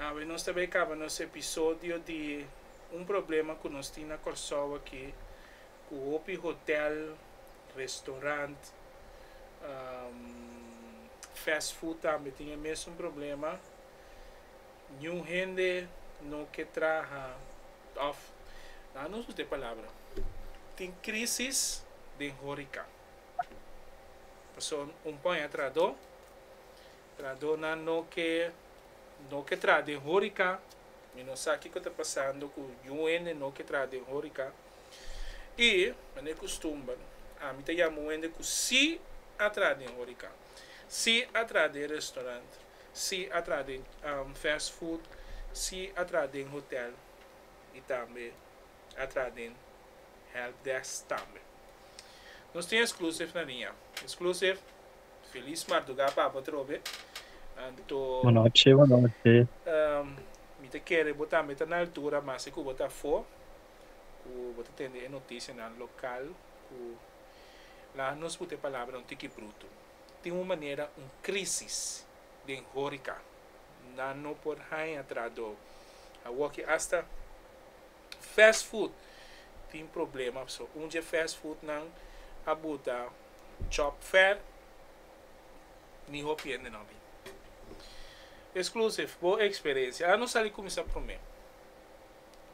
Awe nos ta bai kaba nos episodio di un problema ku nos tin na Kòrsou aki ku hopi hotèl, restorant, fast food tambe tin e mesun problema. Niun hende no ke traha òf la nos usa e palabra tin krísis den hórika. Pasobra un pòña atrás do. Tradonan no ke no ke traha den horika. Mi no sa kiko ta pasando ku yu hende no ke traha den horika. I manera e kustumber ami ta yama un hende ku si a traha den horika, si a traha den restorant, si a traha den fast food, si a traha den hotel i tambe a traha den help desk tambe. Nos tin exclusive na Ria. Exclusive. Feliz mardugá papa trobe. Anto. Bonochi bonochi. Um, mi ta kere bo tambe ta na altura masi ku bo ta afó ku bo ta tende e notisianan lokal ku laha nos puta e palabra un tiki brutu. Tin un manera un krísis den hórika. Nan no por haña traduo. Awoki asta Fast food tin problema p'sei un dje fast food nan a buta chop fat mi hopi hende nan bin. Exclusive bo experencia ano sali cuminsa prome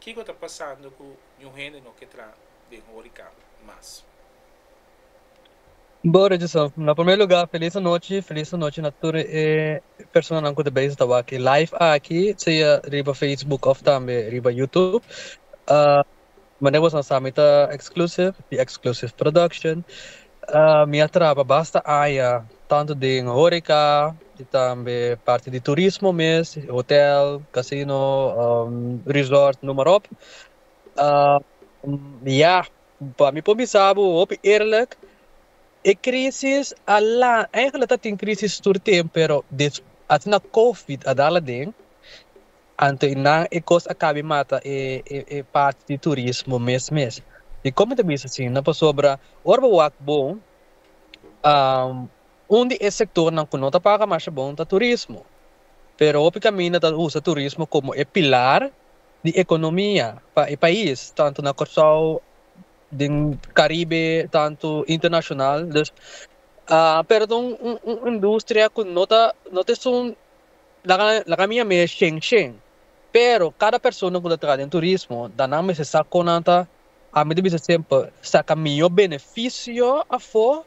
kico ta pasando cu ñu hende no ke traha den horeca mas. Bo regiso. Na primer lugar feliz anochi, feliz anochi na tur e personanan cu ta bezig ta wak e live aki, sea riba Facebook of tambe riba YouTube. Manera boso a sa mi ta Xclusive di Xclusive Production. Mi a traba basta aña tanto den horeca y tambe parti di turismo mes, hotel, casino, resort, noem maar op. Ya Pa mi por bisa bo hopi eerlijk, e crisis a laga, eigenlijk ta tin crisis tur temp pero des asina covid a dal aden, anto e nan e cos a cabi mata e e parti di turismo mes mes. Dicor mi ta bisa asina? Pasobra ora bo wak bon un di e sectornan cu no ta paga masha bon ta turismo, pero hopi caminda ta usa turismo como e pilar di economia pa e pais tanto na Corsou den Caribe tanto internacional dus pero ta un industria cu no ta no ta esun laga mi a mira shen shen pero cada persona cu ta traha den turismo ta nan mester sa con nan ta a mi ta bisa semper saca miyor beneficio afo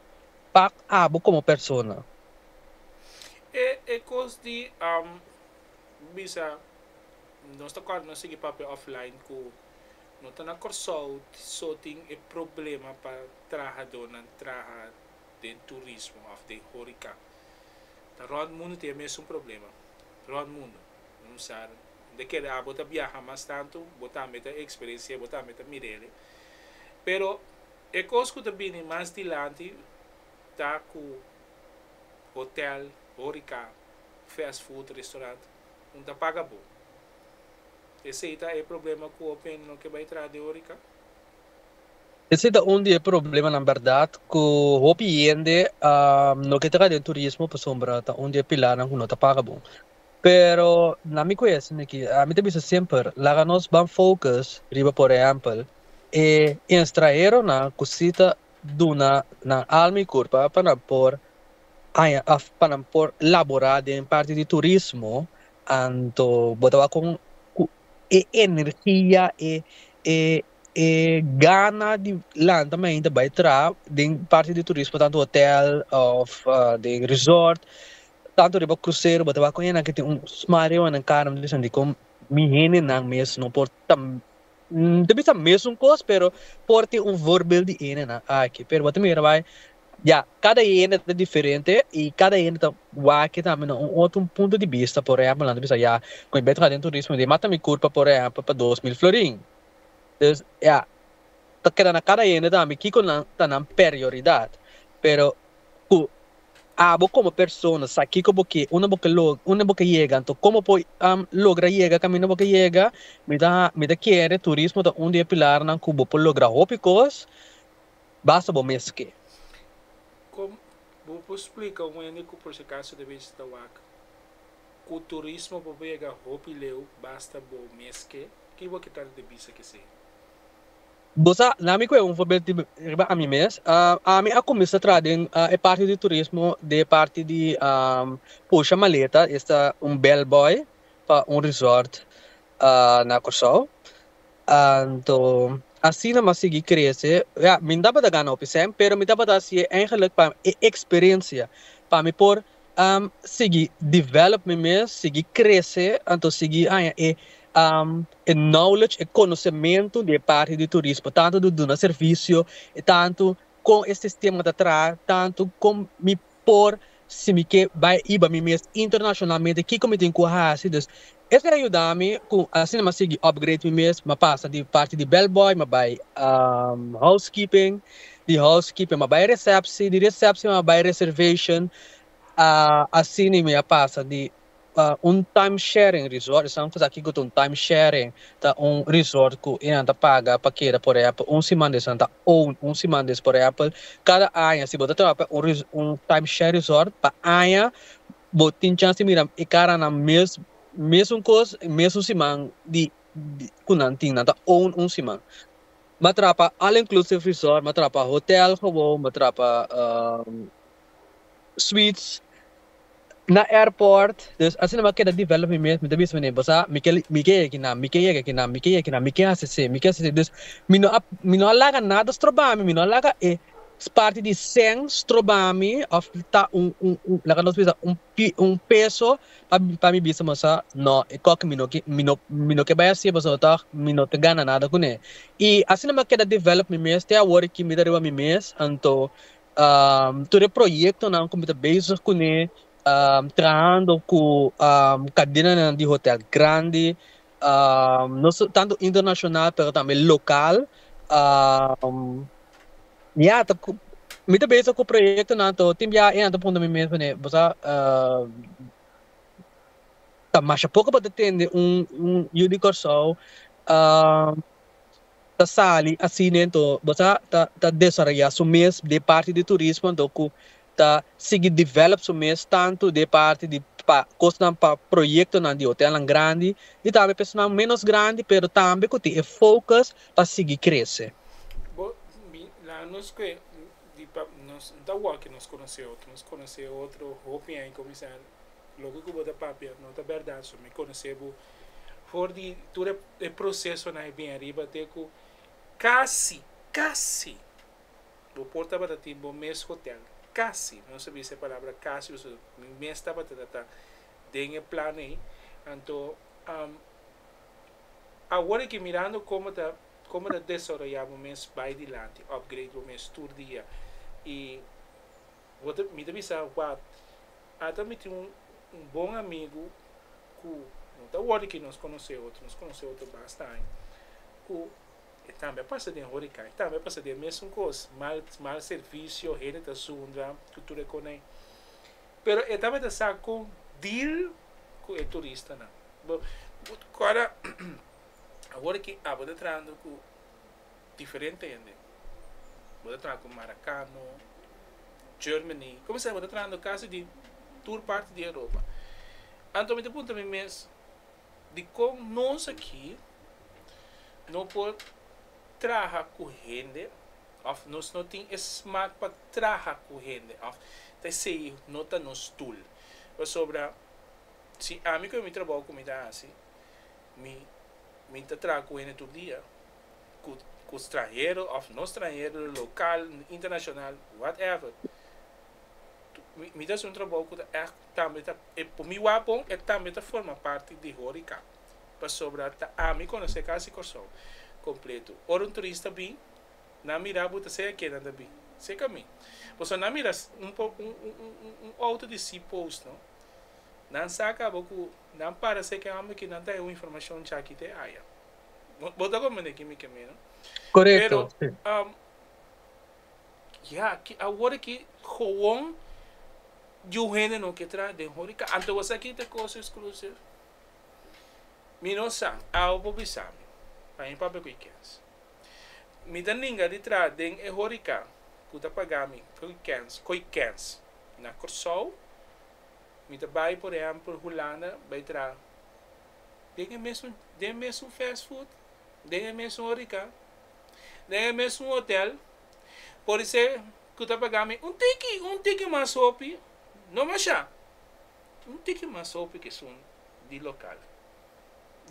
pa abo como persona. E cos di Bo bisa nos ta corda nos sigui papia offline cu no ta na Corsou so tin e problema pa trahadornan traha den turismo of den horeca ta rond mundo tin e mesun problema rond mundo un sa de kere abo ta biaha mas tanto bo tambe ta experencia bo tambe ta mirele pero e cos cu ta bini mas dilanti ta cu hotel horeca fast food restaurant un ta paga bo. Esey ta e problema cu hopi hende no ke bay traha di Orica. Esey ta un di e problemanan berdad cu hopi hende no ke traha den turismo pasobra ta un di e pilarnan cu no ta paga bo. Pero na mi cuestion aki ami ta bisa semper laga nos ban focus riba por ehempel e enstraheronan cu si ta duna nan alma y curpa pa nan por Haña af pa nan por laborá den parti di turismo, anto bo ta wak kon ku e energia, e e e gana di lanta mi ainda bai traha den parti di turismo tantu hotel òf den resort, tantu riba krusero, bo ta wak ku e nan ke tin un smareo nan karanan, mi ta sinti kon mi hendenan mes no por ta N ta bisa mesun kos, pero por tin un voorbeeld di hendenan aki. Pero bo ta mira bai, ya, kada hende ta diferente i kada hende ta wak tambe na un otro punto di bista. Por ehèmpel, nan ta bisa, ya, kon e Betho a den turismo dje, mata mi kurpa, por ehèmpel, pa dos mil florin. Dus, ya, ta keda na kada hende tambe kiko nan ta nan perioridat. Pero ku. Abo komo persona sa kiko bo ke unda bo ke logra unda bo ke yega anto komo bo por logra yega kaminda bo ke yega mi ta mi ta kere turismo ta un di e pilarnan ku bo por logra hopi kos basta bo mes ke. Kon bo por splika un hende ku por si akaso ta bishita wak ku turismo bo por yega hopi leu basta bo mes ke? Ki bo ke trata di bisa kesei? Bo sa, laat mi kue un voorbeeld di riba ami mes. Ami a kuminsá traha den e parti di turismo den e parti di pusha maleta, esta un bell boy pa un resort na Kòrsou. Anto asina mi a sigui krese, ya mi no tabata gana hopi sèn pero mi tabata hasié eingelik pa e eksperensia pa mi por sigui develop mi mes, sigui krese, anto sigui haña e knowledge, e konosementu di e parti di turismo, tantu di duna servisio, tantu kon e sistema ta traha, tantu kon mi por, si mi ke bai iba mi mes internashonalmente, kiko mi tin ku hasi. Dus, Esei a yuda mi ku asina m'a sigui upgrade mi mes, m'a pasa di parti di bellboy m'a bai housekeeping, di housekeeping m'a bai resepsi, di resepsi m'a bai reservation, asina i mi a pasa di un time sharing resort, esnan ku sa kiko ta un time sharing, ta un resort ku e nan ta paga pa keda por ehèmpel un siman di esnan ta own un siman di es, por ehèmpel kada aña si bo ta traha pa un time sharing resort pa aña Bo tin chans di mira e karanan mes mesun kos mesun siman di di ku nan tin nan ta own un siman m'a trapa all inclusive resort m'a trapa hotel gebow m'a trapa sweets na airport dus asina m'a keda develop mi mes mi ta bisa menen bo sa mi ke mi ke yeki nan mi ke yeki kinan mi ke yeki nan mi ke hasi si mi ke hasi si dus mi no a mi no a laga nada stroba mi mi no a laga e Es parti di Sen strobami of ta un laga nos bisa un peso pa mi bisa mos sa no e koke mi no ke mi no ke bai hasi pasobra mi ta mi no ta gana nada kuné i asina mi a keda develop mi mes te awor aki mi ta riba mi mes anto tur e proyektonan ku mi ta bezig kuné trahando ku kadenanan di hotel grandi. no tanto internacional pero tambe local ya ta mi ta bezig cu proyectonan to tin bia e nan ta puntra mi mes cune bo sa ta masha poco pa ta tende un un yu di Kòrsou ta sali asi dentro bo sa ta ta desarrolla su mes de parti di turismo anto cu ta sigui develop su mes tantu di e parti di pa kosnan pa proyektonan di hotelnan grandi i tambe pa esunnan ménos grandi pero tambe ku tin e focus pa sigui krese. Bo bin na nos ku e di pa nos no ta wòl ku nos konosé otro, nos konosé otro hopi ai kuminsá loke ku bo ta papia no ta bèrdat so mi konosé bo for di tur e prosesonan e bin ariba te ku kasi kasi Bo por tabata tin bo mes hotel casi, no sa bisa e palabra casi o su mi mes tabata ta ta den e plan ei, anto awor aki mirando como ta como ta desarroya bo mes bay dilanti upgrade bo mes tur dia y bo ta mi ta bisa wap ata mi tin un un bon amigo cu no ta awor aki nos conoce otro nos conoce otro basta aña cu E tambe a pasa den horikan, e tambe a pasa den mesun kos, mal mal servisio, hende ta zundra ku tur e konai. Pero e tambe ta sa kon deal ku e turistanan. Bo bo ta kòrda awor ki abo ta trahando ku diferente hende, bo ta traha ku Marakano, Germany, komo sea bo ta trahando kasi di tur parti di Europa. Anto mi ta puntra mi mes, di kon nos aki no por traha ku hende òf nos no tin e smak pa traha ku hende òf ta esei no ta nos tul. Pasobra si ami ku mi trabou ku mi ta hasi mi mi ta traha ku hende tur dia, ku ku stranhero òf no stranhero, lokal, internashonal, whatever, mi ta hasi un trabou ku ta ègt. Tambe ta e por mi wak bon e tambe ta forma parti di horika pasobra ta ami konosé kasi Kòrsou kompletu. Ora un turista bin nan mira bo ta sei a kenan ta bin sei ka mi. Bo so nan mira un outo di si post no nan sa kaba ku nan para sei ke homber ki nan ta e un informashon chaki te aya. Bo ta komprendé ki mi ke mi no pero. Ya aki awor aki gewoon yu hende no ke traha den horeca anto bo sa ki ta cosa exclusive mi no sa awe bo bisa mi pa mi papia cu e kens mi ta ninga di traha den e horeca cu ta paga mi cu e kens cu e kens na Corsou mi ta bay por ehempel Hulanda bay traha den e mesun den e mesun fast food den e mesun horeca den e mesun hotel, por ser cu ta paga mi un tiki, un tiki mas hopi, no masha, un tiki mas hopi cu esun di local.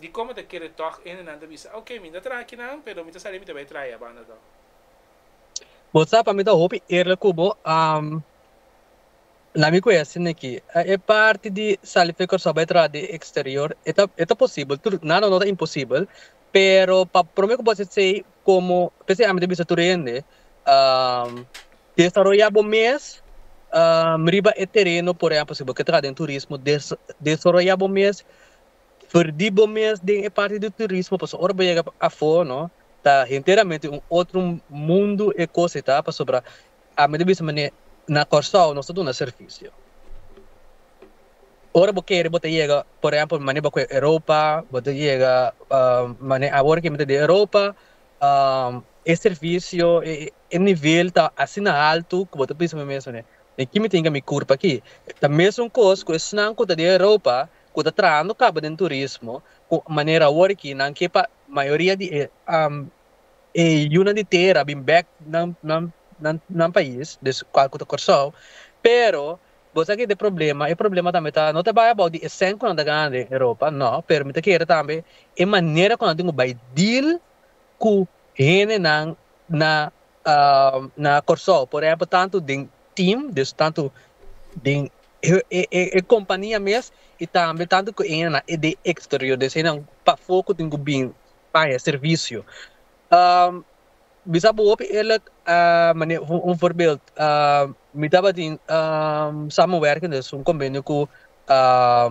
Dicoma ta kere tog hende nan ta bisa, ok, mi no ta traha akinan, pero mi ta sali mi ta bay traha ya banda to. Bo sa pa mi ta hopi eerlijk cu bo. Na mi ku ese niki a e parti di sali fen Kòrsou bai traha den eksterior e ta e ta posibel tur nada no ta imposibel pero pa prome ku bo hasi esei komo p'esei ami ta bisa tur hende desaroya bo mes riba e tereno por ehempel si bo ke traha den turismo desa desaroya bo mes ferdi bo mes den e parti di turismo pasobra ora bo yega afo no ta henteramente un otro mundo e kos e ta pasobra A mi ta bisa manera na Kòrsou nos ta duna servisio. Ora bo kere bo ta yega, por ehèmpel manera bo kue Europa, bo ta yega manera awor ke mi ta di Europa, e servisio, e nivel ta asina altu ku bo ta bisa bo mes manera, den ki mi tin kami kurpa aki? Ta mesun kos ku esnan ku ta den Europa ku ta trahando kaba den turismo, ku manera awor aki nan ke pa mayoria di e e yunan di tera bin bek nan nan nan nan pais des cual cu ta Corsou pero bo sa ki ta e problema e problema tambe ta no ta bai abou di e cen cu nan ta gana den Europa no pero mi ta kere tambe e manera cu nan tin cu bai deal cu hendenan na na Corsou por ehempel tanto den team des tanto den e e e compania mes y tambe tanto cu e hende na den exterior des hende pafo cu tin cu bin paña e servisio. mi sa bo hopi eerlijk un voorbeeld mi tabatin samenwerking dus un convenio cu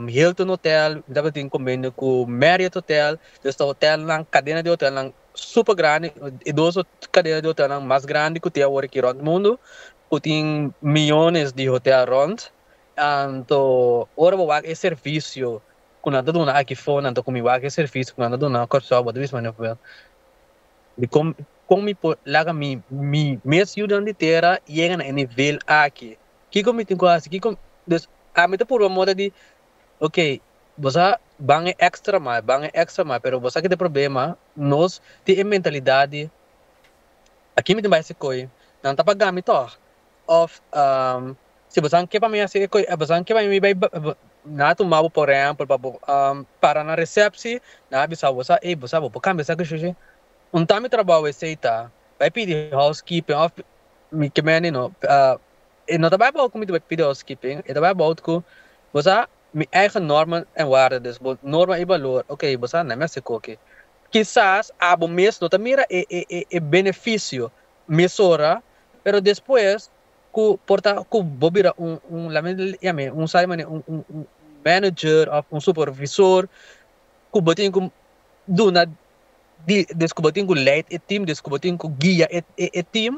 Hilton hotel mi tabatin convenio cu Marriot hotel dus ta hotelnan cadena di hotelnan super grandi e dos cadena di hotelnan mas grandi cu tin awor aki rond mundo cu tin miyones di hotel rond anto ora bo wak e servisio ku nan ta duna aki for nan ta kumi wak e servisio ku nan ta duna Kòrsou bòt Luis Manuel Pruel di kon kon mi por laga mi mi mes yudan di tera yega na e nivel aki kiko mi tin ku hasi kiko dus ami ta purba mostra di ok boso a ban e èkstra mai ban e èkstra mai pero boso aki ta e problema nos tin e mentalidat di aki mi tin bai sikoi nan ta pagami tòg òf. Si bosan ke pa mi hasi e kos, bosan ke pa mi bai nan a tuma bo por ehempel pa bo para na recepci nan a bisa bo sa ey bo sa bo por cambia esaki shishi unta mi trabou esey ta bai pidi housekeeping of mi ke meni no e no ta bai about ku mi ta bai pidi housekeeping e ta bai about ku bo sa mi eigen normen en warde dus bo norma y balor ok bo sa nan mi a si koki kisas abo mes no ta mira e e e beneficio mesora pero despues Ku por ta ku bo bira un un laga mi yam'e un sa di manera un un un manager òf un supervisor ku bo tin ku duna di des ku bo tin ku leid e tim des ku bo tin ku guia e e tim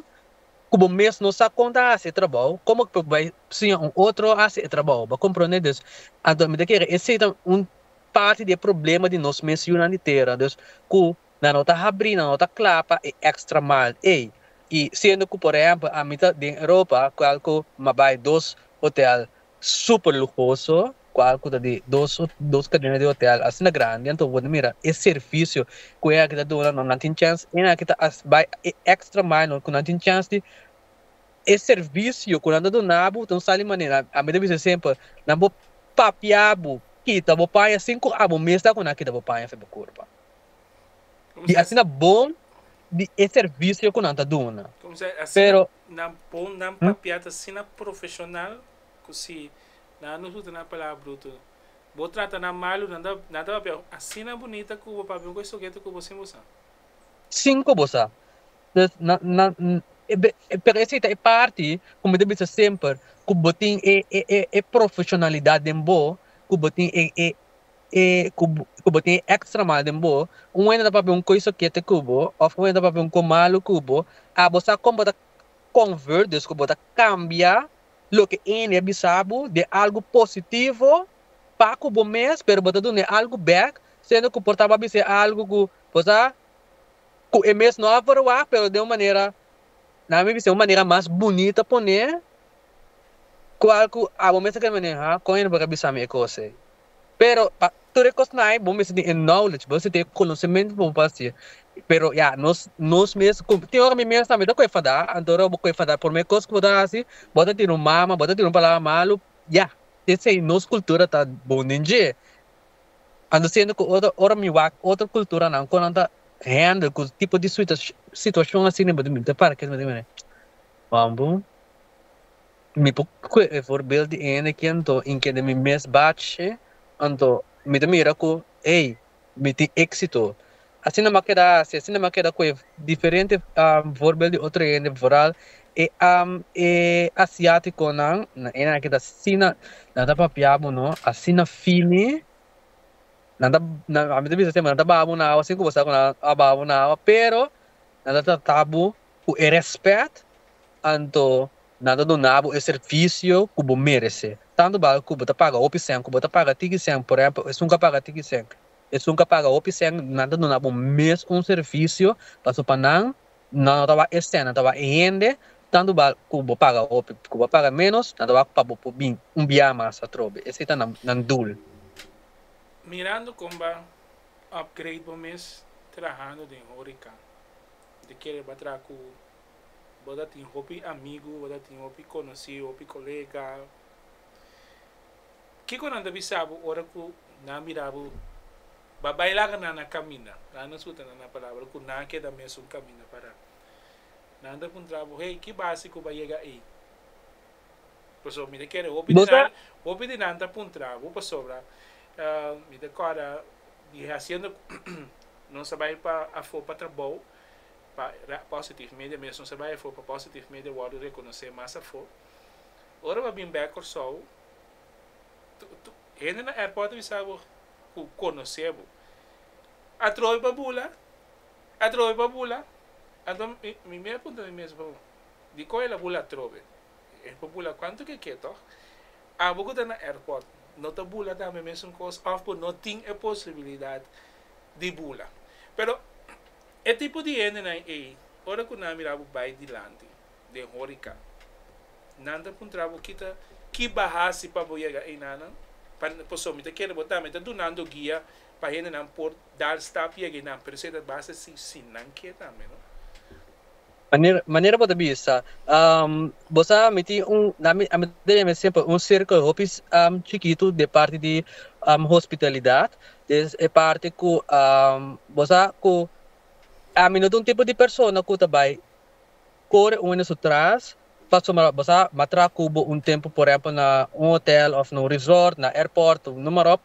ku bo mes no sa kon ta hasi e trabou komo ku por bai siña un otro hasi e trabou bo komprende dus anto mi ta kere esei ta un parti di e problema di nos mes yunan di tera dus ku Nan no ta habrí, nan no ta kla pa e extra mile ei. I siendo cu por ehempel ami ta den Europa cual cu m'ha bay dos hotel super lujoso, cual cu ta di dos dos cadena di hotel asina grandi anto bo ta mira e servicio cu e aki ta duna no nan tin chance e aki ta haci bay e extra mile no cu nan tin chance di e servicio cu nan ta duna bo ta un sali manera ami ta bisa semper nan por papia bo kita bo paña sin cu abo mes ta cu nan a kita bo paña fe bo curpa. di asina bon di e servisio ku nan ta duna. Pero. Nan pon nan papia ta asina profeshonal ku si nan a nos usa nan palabra brutu. Bo trata nan malu nan ta nan ta papia asina bunita ku bo papia ku e sugete ku bo sin bo sa. Sin ku bo sa. Pues nan nan pero esei ta e parti ku mi ta bisa semper ku bo tin e e e profeshonalidat den bo ku bo tin e e e ku ku bo tin e extra mal den bo, un hende ta papia un koi sokete ku bo of un hende ta papia un koi malu ku bo, a bo sa kon bo ta convert, dus ku bo ta kambia loke e hende a bisa bo den algu positivo pa ku bo mes, pero bo ta duna e algu back, siendo ku por ta bo a bisa e algu ku bo sa ku e mes no a verwagt pero den un manera nan mi bisa den un manera mas bunita pone, kual ku a bo mes ta keda mira, ha kon hende por a bisa mi e kos ei. Pero pa tur e kosnan bo mester tin e knowledge bo mester tin e konosementu pa bo por hasi'e pero ya nos nos mes ku tin ora mi mes tambe ta ku enfada anto ora bo ku enfada prome kos ku bo ta hasi bo ta tira un mama bo ta tira un palabra malu ya esei nos kultura ta bon den dje anto siendo ku ora ora mi wak otro kulturanan kon nan ta hendel ku tipo di situashon asina bo tin bini ta para kes manera wan bo. Mi por kue e voorbeeld di hende ki anto in kende mi mes bache, anto mi ta mira ku, Ei, mi tin éksito. Asina mi a keda hasi, asina mi a keda ku e diferente voorbeeld di otro hende, foral e e asiátikonan. Na e nan aki ta asina nan ta papia bo no, asina fini. Nan ta, nan, ami ta bisa semper nan ta baha bo na awa sin ku bo sa ku nan a baha bo na awa, pero nan ta trata bo Ku e rèspèt anto nan ta duna bo e servisio ku bo merese. Tantu bal ku bo ta paga hopi sèn, ku bo ta paga tiki sèn, por ehèmpel esun ka paga tiki sèn, esun ka paga hopi sèn, nan ta duna bo mes un servisio, pasobra pa nan, nan no ta wak e sèn, nan ta wak e hende, tantu bal ku bo paga hopi, ku bo paga ménos, nan ta wak pa bo por bin un biaha mas atrobe. Esei ta nan nan dul. Mirando kon bo a upgrade bo mes trahando den hórica. Te kere bo a traha ku bo ta tin hopi amigu, bo ta tin hopi konosí, hopi kolega. Kiko nan ta bisa bo ora ku nan a mira bo bai bai laga nan a kaminda? Nan a suta nan na palabra ku nan a keda mesun kaminda pará. Nan ta puntra bo, Hey, ki base ku bo a yega ei? Pasobra mi ta kere hopi di nan, hopi di nan ta puntra bo pasobra mi ta kòrda di hasienda ku nos a bai pa afó pa trabou pa Positive Media mes nos a bai afó pa Positive Media wòrdu rekonosé mas afó. Ora bo a bin bèk Kòrsou hende na airport a bisa bo ku konosé bo. A trobe pa bula, a trobe pa bula, anto mi a puntra mi mes, Dikó el a bula atrobe? E por bula kuantu ke ke tòg. Abo ku ta na airport no ta bula tambe e mesun kos òf ku no tin e posibilidat di bula. Pero e tipo di hendenan ei ora ku nan a mira bo bai dilanti den horika nan ta puntra bo kita ki bo a hasi pa bo yega einanan pa pasobra mi ta kere bo tambe ta dunando guia pa hendenan por dar stap yega einan pero esei ta basa si nan ke tambe no. Manera manera bo ta bisa bo sa mi tin un ami ami ta yama esempel un circle hopi chikitu den parti di hospitalidad es e parti ku bo sa ku ami no ta un tipo di persona ku ta bai kore unda su tras paso ma bo sa bo a traha ku bo un tempu por ehempel na un hotel of na un resort na airport of nama ròp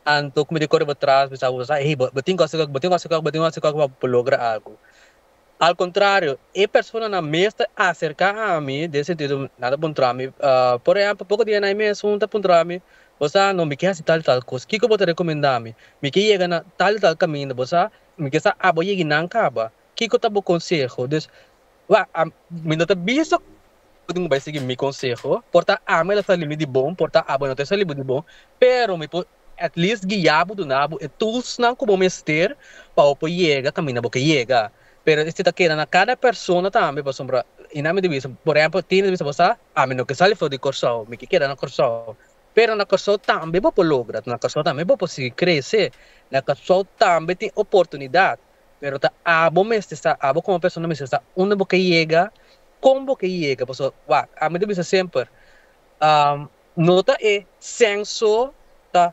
anto ku mi ta kore bo tras bisa bo bo sa ey bo tin ku hasi bo tin ku hasi bo tin ku hasi bo por logra algu. Al kontrario, e personanan mes ta aserká ami, den sentido nan ta puntra mi, por ehèmpel, poko di anai mes un ta puntra mi, Bo sa no, mi ke hasi tal i tal kos, kiko bo ta rekomendá mi? Mi ke yega na tal i tal kaminda, bo sa, mi ke sa abo yegi nan kaba, kiko ta bo konseho? Dus, wak, mi no ta bisa Abo no bai sigui mi konseho, por ta ami el a sali mi di bon, por ta abo el no ta sali bo di bon, pero mi por at least guia bo, duna bo e toolsnan ku bo mester pa bo por yega kaminda bo ke yega. Pero esei ta keda na kada persona tambe, pasobra i na mi di bisa, por ehèmpel tin di bisa bo sa ami no ke sali for di Kòrsou, mi ke keda na Kòrsou, pero na Kòrsou tambe bo por logra, na Kòrsou tambe bo por sigui krese, na Kòrsou tambe tin oportunidat. Pero ta abo mester sta, abo como persona mester sta unda bo ke yega, con bo ke yega, pasobra wak, ami ta bisa semper, no ta e censo ta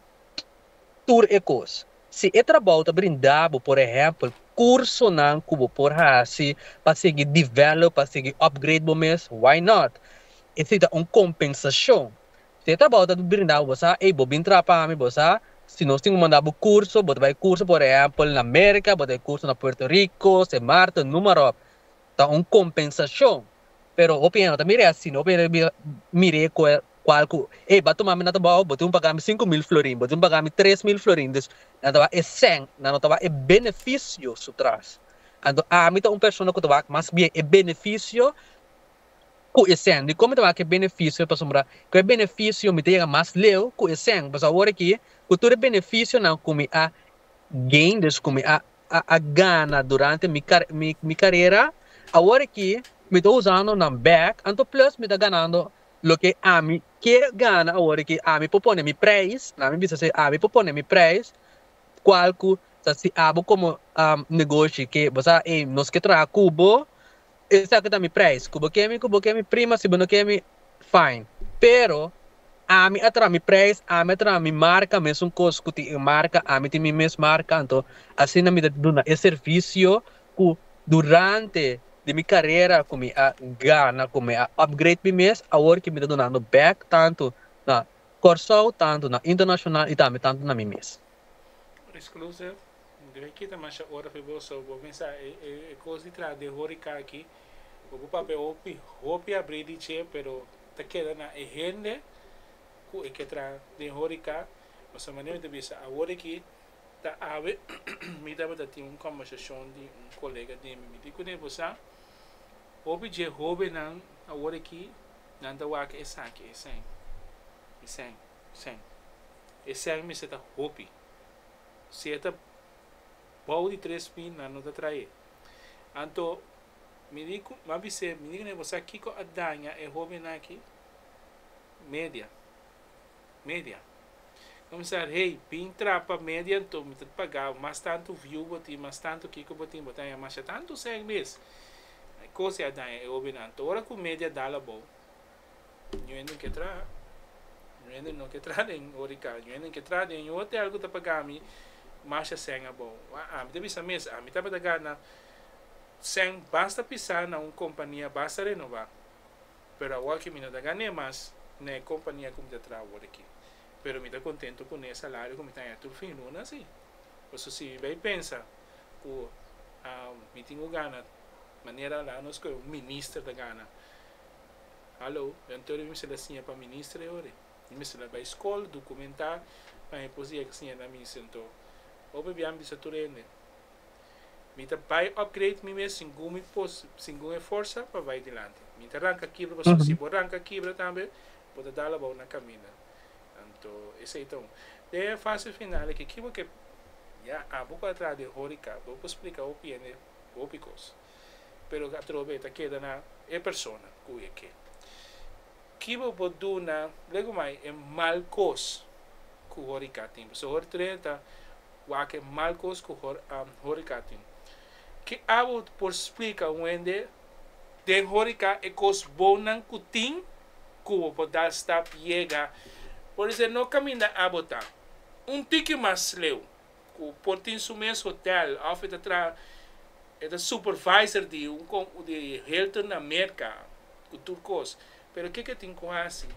tur e cos, si e trabao ta brinda bo por ehempel cursonan cu bo por haci pa sigui develop, pa sigui upgrade bo mes, why not? Esei ta un compensacion, Si e ta abou ta brinda cu bo sa, ey, bo bin traha pa mi, bo sa, si nos tin cu manda bo curso, bo ta bay curso, por ehempel, na America, bo ta bay curso na Puerto Rico, Sen Marten, numarop, ta un compensacion. Pero hopi hende no ta mira e asina, hopi hende mira, mira e cu, cual cu, ey, ba tuma mi na ta abou, bo tin cu paga mi sinku mil florin, bo tin cu paga mi tres mil florin, dus, nan ta bay e sen, nan no ta bay e beneficio su tras. Anto, ami ta un persona cu ta bay mas bien e beneficio ku esèn, di kon mi ta wak e benefisio pasobra ku e benefisio mi ta yega mas leu ku esèn. Pues awor aki ku tur e benefisionan ku mi a gain, dus ku mi a a gana durante mi kar mi mi karera, awor aki mi ta usando nan bèk, anto plus mi ta ganando loke ami ke gana awor aki, ami por pone mi preis, na mi bisa si ami por pone mi preis kual ku ta si'a bo komo negoshi ke bo sa ei nos ke traha ku bo, Esaki ta mi prijs, ku bo ke mi, ku bo ke mi prima, si bo no ke mi, fine. Pero, ami a traha mi prijs, ami a traha mi marka, mesun kos ku tin e marka, ami tin mi mes marka, anto asina mi ta duna e servisio ku durante di mi karera ku mi a gana, ku mi a upgrade mi mes, awor ke mi ta dunando bèk tantu na Kòrsou, tantu na internashonal i tambe tantu na mi mes. Mester a kita masha ora pa bo so bo mester sa e cos di traha den horica aki pa bo papia hopi hopi abri di dje pero ta keda na e hende cu e ke traha den horica pasobra manera mi ta bisa awor aki ta awe mi tabata tin un conversacion di un colega di mi mi di cu nebo sa hopi dje hobennan awor aki nan ta wak esaki esei esei esei esei mester ta hopi Si e ta bou di tres mil, nan no ta traé. Anto, mi di ku, m'a bis'é, mi di ku, bo sa kiko a daña e hóbennan akí? Media. Media. Komisar, Hey, bin trapa media anto, mi ta pagá bo. Mas tantu viu bo tin, mas tantu kiko bo tin, bo ta haña masha tantu sèk mes. E kos ei a daña e hóbennan. Anto, ora ku media dal abou. Ñu hende ke traha. Ñu hende no ke traha den horikan. Ñu hende ke traha den ñu hotel ku ta paga mi masha sèn abou. Wak ami ta bisa mes, ami tabata gana sèn basta pisá na un kompania basta renová. Pero awor ke mi no ta gan'é mas na e kompania ku mi ta traha awor aki. Pero mi ta kontentu kuné e salario ku mi ta haña tur fin luna si. Pasobra si mi bai pensa ku mi tin ku gana manera nan a nos kohe un minister ta gana. Hallo, den tur mi mester la siña pa minister e ora e. Mi mester la bai skol, dukumentá, pa mi por yega siña na minister. Anto, hopi biaha mi bisa tur hende, Mi ta bai upgrade mi mes singun mi por, singun e forsa pa bai dilanti. Mi ta ranka kibra, pasobra si bo ranka kibra tambe, bo ta dal abou na kaminda. Anto, esei ta un. Den e fase final aki, kico ke, ya, abo ku a traha den horeca, bo por splika hopi hende hopi kos. pero atrobe e ta keda na e persona ku e ke. Ki bo por duna luego mai e mal kos ku horiká tin? Pasobra hor Trene ta wak e mal kos ku horiká tin. Ke abo por splika un hende den horiká e kos bonnan ku tin ku bo por dal stap yega? Por di ser no kaminda abo ta un tiki mas sleu cu por tin su mes hotel of e ta traha e ta supervisor di un com di Hilton na Merca cu tur cos pero kiko e tin cu haci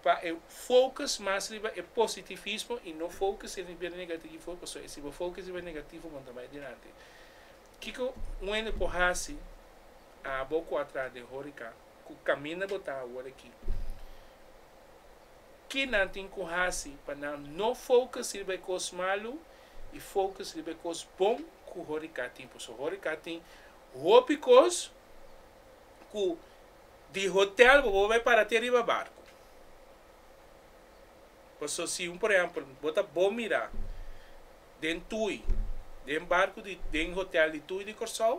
pa e focus mas riba e positivismo y no focus riba e negativo pasobra e si bo focus riba e negativo bo no ta bay dilanti kiko un hende por haci abo cu a traha den horeca cu caminda bo ta awor aki. Ki nan tin ku hasi pa nan no focus riba e kos malu i focus riba e kos bon ku horeca tin? Paso horeca tin hopi kos ku di hotel bo bo bai para te riba barku. Paso si un por ehempel bo ta bo mira den tui den barku di den hotel di tui di Kòrsou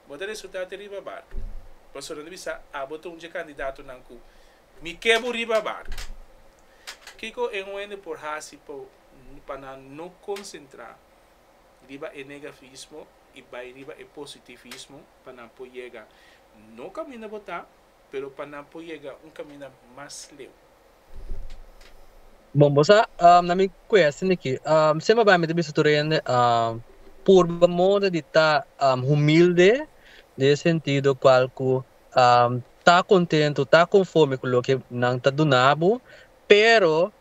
bo ta resulta te riba barku. Paso nan ta bisa abo ta un dje kandidatonan ku Mi ke bo riba barco. Kiko e hoende por haci pa nan no concentra riba e negavismo y bay riba e positivismo pa nan por yega no caminda bo ta pero pa nan por yega un caminda mas leu? Bon, bo sa, na mi question aki, siempre bay mi ta bisa tur hoende purba mode di ta humilde den e sentido cual cu ta kontentu, ta konforme ku loke nan ta duna bo, pero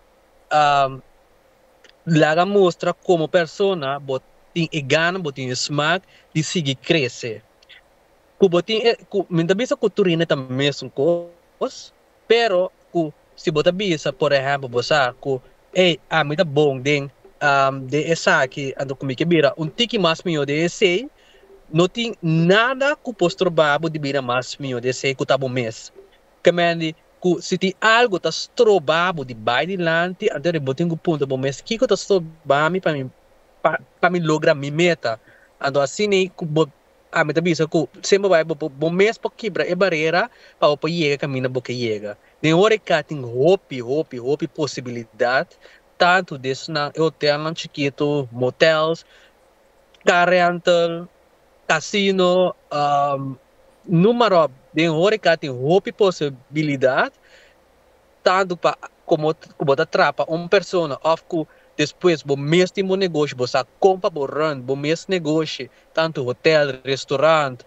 laga mustra komo persona bo tin e gana, bo tin e smak di sigui krese. Ku bo tin e, mi ta bisa ku tur hende ta mesun kos. Pero cu si bo ta bisa, por ehemplo, bo sa cu, Ey, ami ta bon den den esaki, anto cu mi ke bira un tiki mas mijo den esey, no tin nada cu por stroba bo di bira mas mijo den esey cu ta bo mes. Ta mendi cu si tin algo ta stroba bo di bay dilanti, anto riba bo tin cu puntra bo mes, Kico ta stroba mi pa mi pa mi logra mi meta? Anto asina cu bo Ami ta bisa ku semper bai bo por bo mes por kibra e barera pa bo por yega e kaminda bo ke yega. Den ora i ka tin hopi, hopi, hopi posibilidat, tantu di esnan e hotelnan chikitu, motels, car rental, casino, numa ròp. Den ora i ka tin hopi posibilidat. tantu pa komo ku bo ta trapa un persona òf ku despues bo mes tin bo negoshi bo sa kon pa bo run bo mes negoshi, tantu hotèl, restorant,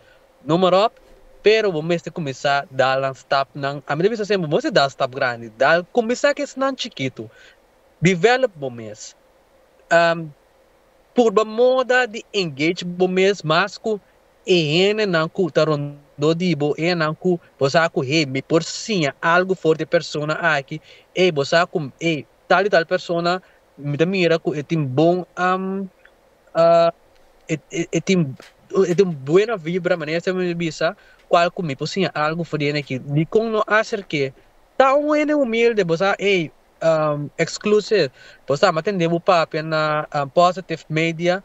noem maar op, pero bo mester kuminsá dal nan stapnan, ami ta bisa semper bo mester dal stap grandi, dal kuminsá ku esnan chikitu, develop bo mes, purba moda di engage bo mes mas ku. E hendenan ku ta rondó di bo, e hendenan ku bo sa ku, Hei, mi por siña algu for di e persona aki. Ei, bo sa ku, ei, tal i tal persona mi ta mira ku e tin bon e tin e tin buena vibra, manera esei mi ta bisa, kual ku mi por siña algu for di hende aki. Dikon no aserk'é? Ta un hende humilde, bo sa, ei, exclusive, bo sa, mi a tende bo papia na Positive Media.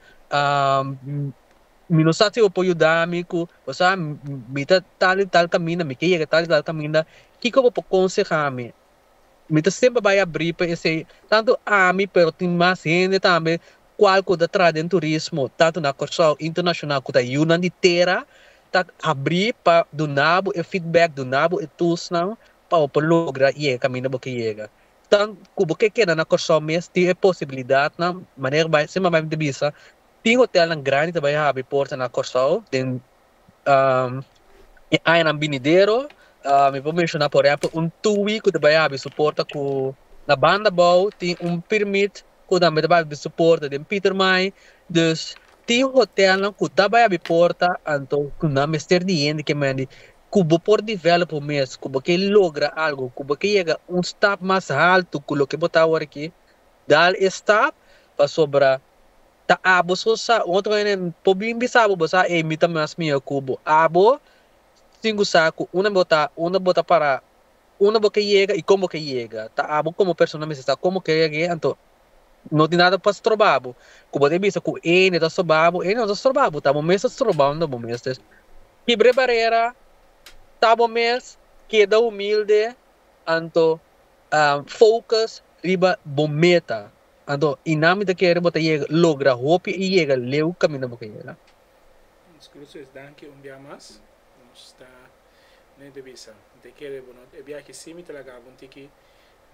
Mi no sa si bo por yuda mi cu, bo sa, mi ta tal y tal caminda, mi ke yega tal y tal caminda, kico bo por conseha mi? Mi ta semper bay abri pa esey, tanto ami pero tin mas hende tambe cual cu ta traha den turismo, tanto na Curaçao y internacional cu ta yunan di tera, ta abri pa duna bo e feedback, duna bo e toolsnan pa bo por logra yega caminda bo ke yega. Tan cu bo ke keda na Curaçao mes tin e posibilidadnan, manera bay, semper bay mi ta bisa, Tin hotelnan grandi ta bai habri porta na Kòrsou den e añanan binidero. Mi por menshoná por ehèmpel un TUI ku ta bai habri su porta ku na banda abou tin un pirmit ku tambe ta bai habri su porta den Pieter Maai. Dus tin hotelnan ku ta bai habri porta anto ku nan mester di hende ke men di ku bo por develop bo mes, ku bo ke logra algu, ku bo ke yega un stap mas haltu ku loke bo ta aworakí. dal e stap pasobra ta abo so sa otro hende por bin bisa bo bo sa ey mi ta mas mihó cu bo abo sin cu sa cu unda bo ta unda bo ta para unda bo ke yega y con bo ke yega ta abo como persona mester sa como ke yega ey anto no tin nada pa stroba bo cu bo ta bisa cu hende ta stroba bo hende no ta stroba bo ta bo mes ta stroba unda bo mes ta kibre barera ta bo mes keda humilde anto. focus riba bo meta anto y nan mi ta kere bo ta yega logra hopi y yega leu caminda bo ke yega. Nos cruzo es danki un bia mas nos ta ne de bisa mi ta kere bo not e biahi si mi ta lagabo un tiki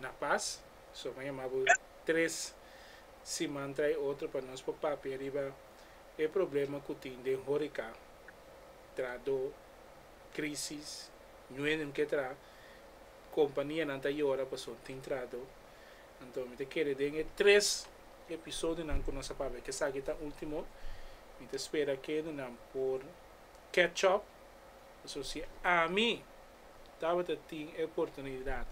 na pas so con yamabo tres siman trae otro pa nos por papia riba e problema cu tin den horica tra do crisis nuenem ke tra Companianan ta yora pasobra tin trado. Anto mi ta kere den e tres episodionan cu nos a papia cu esaki ta ultimo, mi ta spera cu hende por catch up, pasobra si ami tabata tin e oportunidad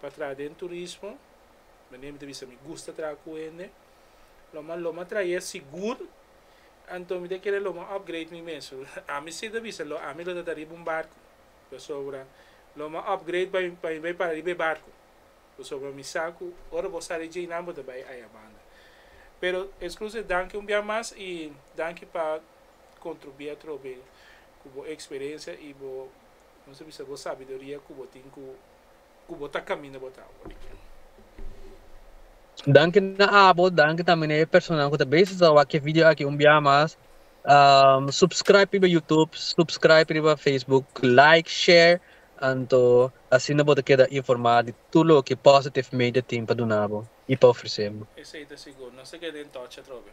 pa traha den turismo, manera mi ta bisa mi gusta traha cu hende, lo mas lo mas traha ya sigur, anto mi ta kere lo mas upgrade mi mes. Ami si ta bisa lo ami lo ta ta riba un barco. Pasobra lo mi a upgrade pa mi pa mi bai para riba e barco. Pasobra mi sa cu ora bo sali dje nan bo ta bai ayabanda. Pero Exclusive danki un bia mas y danki pa contribui atrobe cu bo experiencia y bo nos ta bisa bo sabiduria cu bo tin cu ku bo ta kaminda bot awa di kil. Danki na abo, danki tambe na e personan ku ta bezig ta wak e video aki un bia mas. Subscribe riba Youtube, subscribe riba Facebook, like, share, anto asina bo ta keda informa di tur loke Positive Media tin pa duna bo i pa ofrese bo. Esei ta sigur, nos ta keda en touch atrobe.